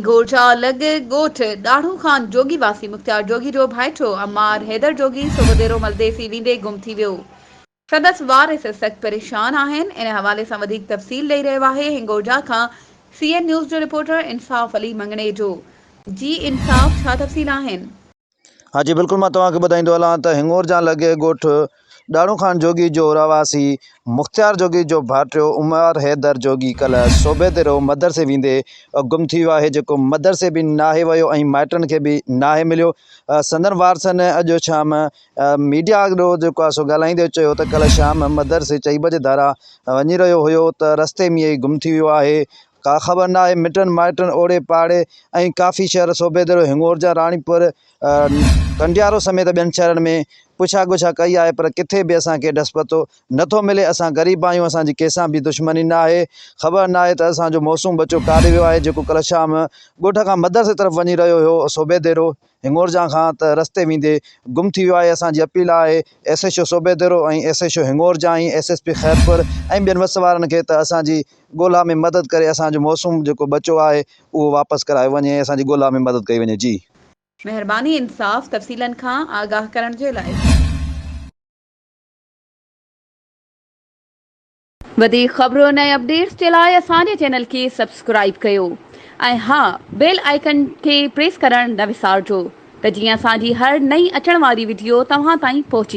گور جا الڳ ڳوٺ، ڏاڙهون خان جوڳي واسي مختيار جوڳي جو ڀائيٽو عمار حيدر جوڳي سو وديرو ملدي سي ويندي گم ٿي ويو. سندس وارث سخت پريشان آهن. ان حوالي سان وڌيڪ تفصيل ڏئي رهيو آهي هنگورجا کان سي اين نيوز جو رپورٽر انصاف علي مڱڻيجو. جي انصاف ڇا تفصيل آهن؟ ها جي بلڪل مان توهان کي ٻڌائيندو هلان ته هڱور جان لڳي ڳوٺ ڏاڙهون خان جوڳي جو رهواسي مختيار جوڳي جو ڀائٽيو عمر حيدر جوڳي ڪلهه صوبي تي رهيو مدرسي ويندي گم ٿي ويو آهي جيڪو مدرسي به ناهي ويو ۽ مائٽن کي به ناهي مليو سندن وارثن اڄ شام ميڊيا اڳو جيڪو آهي سو ڳالهائيندي چيو ته ڪلهه شام مدرسي چئي بجي ڌارا وڃي رهيو هيو ته رستي ۾ ئي گم ٿي ويو آهي ڪا خبر ناهي مٽن مائٽن اوڙي پاڙي ۽ ڪافي شهر صوبيدڙو هڱورجا راڻيپور ڪنڊيارو سميت ٻين شهرن ۾ پڇا ڳڇا ڪئي آهي پر ڪٿي به اسان کي ڏس پتو نه ٿو ملي اسان غريب آهيون اسان جي ڪنهن سان به دشمني ناهي خبر ناهي ته اسان جو معصوم ٻچو ڪاڏي ويو آهي جيڪو ڪلهه شام ڳوٺ کان مدرسي طرف وڃي رهيو هيو صوبيدڙو هڱورجان کان ته رستي ويندي گم ٿي ويو آهي اسان جي اپيل آهي S H O Sobho Dero ۽ S H O هڱورجان ۽ ايس ايس پي خيرپور ۽ ٻين وس وارن کي ته اسان جي ڳولا ۾ مدد ڪري اسان جو موسوم جيڪو ٻچو آهي اهو واپس ڪرايو وڃي ۽ اسان جي ڳولا ۾ مدد ڪئي وڃي جي. مهرباني انصاف تفصيلن کان آگاهه ڪرڻ جي لاء. وڌيڪ خبرن ۽ اپڊيٽس جي لاء اسان جي چينل کي سبسڪرائيب ڪيو ۽ ها بيل آئيڪن کي پريس ڪرڻ نه وسارجو ته جيئن اسان جي هر نئين اچڻ واري وڊيو توهان تائين پهچي.